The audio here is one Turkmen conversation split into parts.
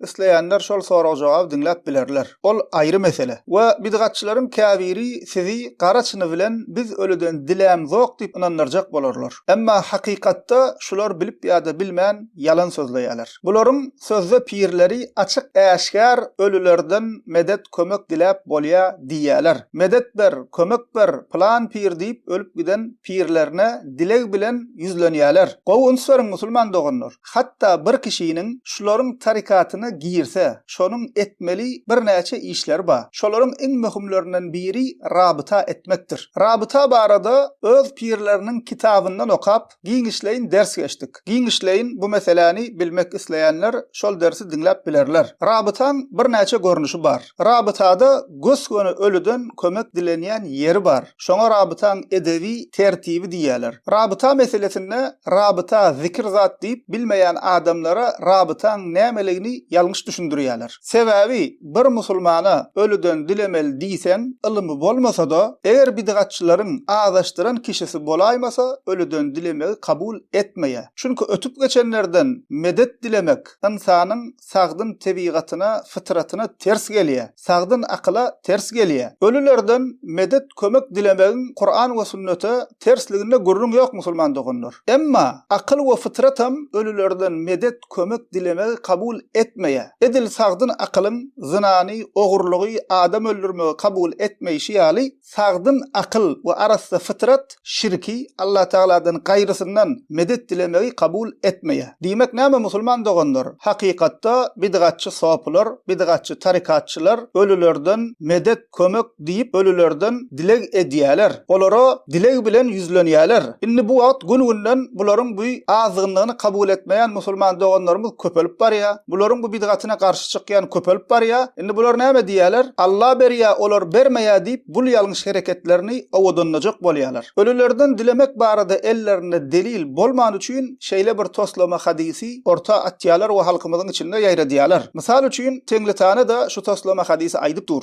Isleýänler şol sorag-jogaby diňläp bilerler. Ol aýry mesele. We bidgatçylaryň käbiri sizi gara çyny bilen biz ölüden dilämzok diýip ynandyrjak bolarlar. Emma hakykatda şular bilip ýa-da bilmän ýalan sözleýärler. Bularyň sözde pirleri açyk-äşgär ölülerden medet kömek diläp bolýa diýýäler. Medet ber, kömek ber, pylan pir diýip ölüp giden pirlerine dileg bilen ýüzlenýäler. Gowy üns beriň musulman doganlar. Hatda bir kişiniň şularyň tarykatyna girse, şonuň etmeli birnäçe işleri bar. Şolaryň iň möhümlerinden biri rabyta etmekdir. Rabyta barada öz pirleriniň kitabyndan okap, giňişleýin ders geçdik. Giňişleýin bu meseläni bilmek isleýänler şol dersi diňläp bilerler. Rabytaň birnäçe görnüşi bar. Rabytada gös-göni ölüden kömek dilenýän ýeri bar. Şoňa rabytaň edebi tertibi diýýärler. Rabyta meselesinde rabyta zikir zat diýip bilmeýän adamlara rabytaň nämeligini ýalňyş düşündirýärler. Sebäbi bir musulmana ölüden dilemeli diýseň, ylymy bolmasa-da, eger bidgatçylaryň azaşdyran kişisi bolaýmasa, ölüden dilemegi kabul etmeýär. Çünki ötüp geçenlerden medet dilemek ynsanyň sagdyn tebigatyna, fytratyna ters gelýär, sagdyn akyla ters gelýär. Ölülerden medet, kömek dilemegiň Kuran we sünnete tersliginde gürrüň ýok musulman doganlar. Emma akyl we fytratam ölülerden medet, kömek dilemegi kabul etmeýär. Edil sagdyn akylyň zynany, ogurlygy, adam öldürmegi kabul etmeýşi ýaly, Sagdyn akyl we arassa fytrat şirki, Allatagaladan gaýrysyndan medet dilemegi kabul etmeýär. Diýmek näme musulman doganlar? Hakykatda bidgatçy sopular, bidgatçy tarykatçylar ölülerden medet, kömek diýip ölülerden dileg edýäler. Olara dileg bilen ýüzlenýäler. Indi bu wagt gün-günden bularyň bu azgynlygyny kabul etmeýän musulman doganlarymyz köpelip barýar. Bularyň bu bidgatyna garşy çykýan köpelip barýar. Indi bular näme diýerler? Alla berýär, olar bermeýär diýip, bul ýalňyş hereketlerini owadanlajak bolýarlar. Ölülerden dilemek barada ellerinde delil bolmany üçin şeýle bir toslama hadysy orta atýarlar we halkymyzyň içinde ýaýradýarlar. Mysal üçin, Teňritana-da şu toslama hadysy aýdyp dur.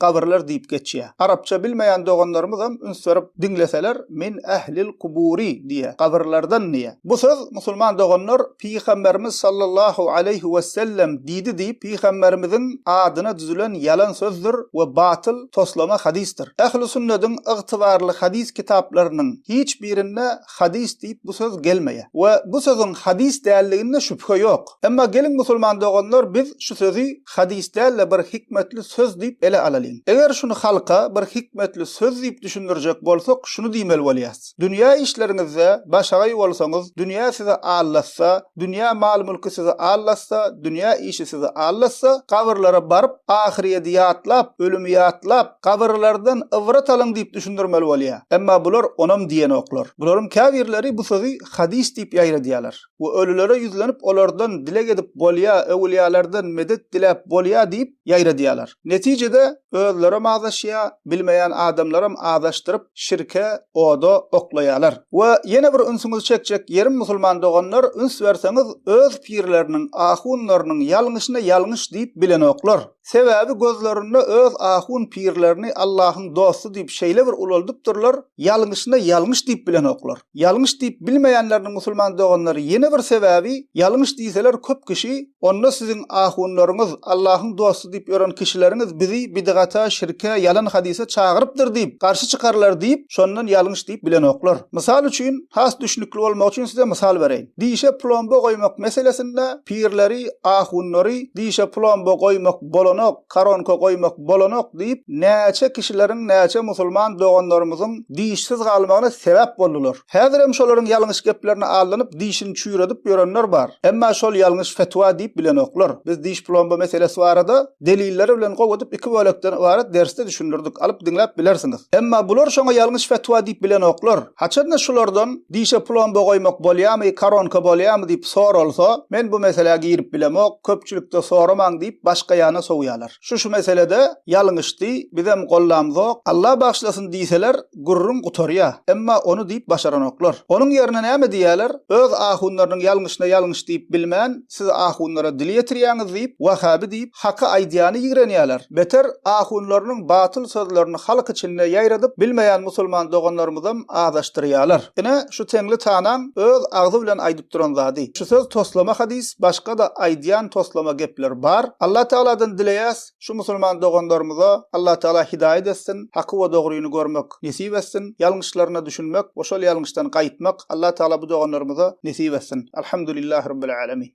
gabyrlar diýip geçýär. Arapça bilmeýän doganlarymyzam üns berip diňleseler min ählil kuburi diýýär, gabyrlardan diýýär. Bu söz musulman doganlar Pygamberimiz sallallahu aleýhi wesellem diýdi diýip Pygamberimiziň adyna düzülen ýalan sözdür we batyl, toslama hadysdyr. Ähli sünnediň ygtybarly hadys kitaplarynyň hiç birinde hadys diýip bu söz gelmeýär. We bu sözüň hadys däldiginde şübhe ýok. Emma geliň musulman doganlar biz şu sözi hadys däl-de bir hikmetli söz diýip ele alalyň. Eger şuny halka bir hikmetli söz diýip düşündirjek bolsak şuny diýmeli bolýas. Dünýä işleriňizde başagaý bolsaňyz, dünýä sizi aldatsa, dünýä mal-mülki sizi aldatsa, dünýä işi sizi aldatsa, gabyrlara baryp ahyryýeti ýatlap, ölümi ýatlap, Gabyrlardan ybrat alyň diýip düşündirmeli bolýa. Emma bular onam diýenoklar. Bularyň käbirleri bu sözi hadys diýip ýaýradýalar we ölülere ýüzlenip olardan dileg edip bolýa, öwülýalardan medet diläp bolýa diýip ýaýradýalar. Netijede özlerem azaşýa, bilmeýän adamlaram azaşdyryp şirke, oda oklaýalar. We ýene bir ünsüňizi çekjek ýerim musulman doganlar üns berseňiz öz pirleriniň, ahunlarynyň ýalňyşyna ýalňyş diýip bilenoklar. Sebäbi gözlerinde öz ahun pirlerini Allahyň dosty diýip şeýle bir ulaldypdyrlar, ýalňyşyna ýalňyş diýip bilenoklar. Ýalňyş diýip bilmeýänleriniň musulman doganlary ýene bir sebäbi, ýalňyş diýseler köp kişi, onda siziň ahunlaryňyz, Allahyň dosty diýip ýören kişileriňiz bizi bidgata, şirke, ýalan hadise çagyrypdyr diýip, garşy çykarlar diýip, şondan ýalňyş diýip bilenoklar. Mysal üçin, has düşnükli bolmagy üçin size mysal bereýin. Dişe plomba goýmak meselesinde pirleri, ahunlary dişe plomba goýmak bolanok, koronka goýmak bolanok diýip, näçe kişileriň, näçe musulman doganlarymyzyň dişsiz galmagyna sebäp boldular. Häzirem şolaryň ýalňyş geplerine aldanyp, dişini çüýredip ýörenler bar. Emma şol ýalňyş fetwa diýip bilenoklar. Biz diş plomba meselesi barada delilleri bilen gowy edip iki bölekden ybarat dersde düşündirdik, alyp diňläp bilersiňiz. Emma bular şoňa ýalňyş fetwa diýip bilenoklar. Haçan-da şulardan dişe plomba goýmak bolýamy, koronka bolýamy diýip soralsa, men bu meselä girip bilemok, köpçülikde soramaň diýip başga ýana sowýalar. Şu-şu meselede ýalňyşdy, bizem gollamzok, Alla bagyşlasyn diýseler, gürrüň gutarýa. Emma ony diýip başaranoklar. Onuň ýerine näme diýýäler, öz ahunlarynyň ýalňyşyna ýalňyş diýip bilmän, Siz ahunlara dil ýetirýäňiz diýip, wahhaby diýip, haky aýdýany ýigrenýäler. Beter, ahunlarynyň batyl sözlerini halk içinde ýaýradyp, bilmeýän musulman doganlarymyzam azaşdyrýalar. Ine, şu teňli tanaň öz agzy bilen aýdyp duran zady. Şu söz toslama hadys, başga-da aýdýan toslama gepler bar. Allatagaladan dileýäs, şu musulman doganlarymyza Allatagala hidaýat etsin, haky we dogryny görmek nesip etsin, ýalňyşlaryna düşünmek we şol ýalňyşdan gaýtmak Allatagala bu doganlarymyza nesip etsin. Alhamdulillah Rabbil Alamin.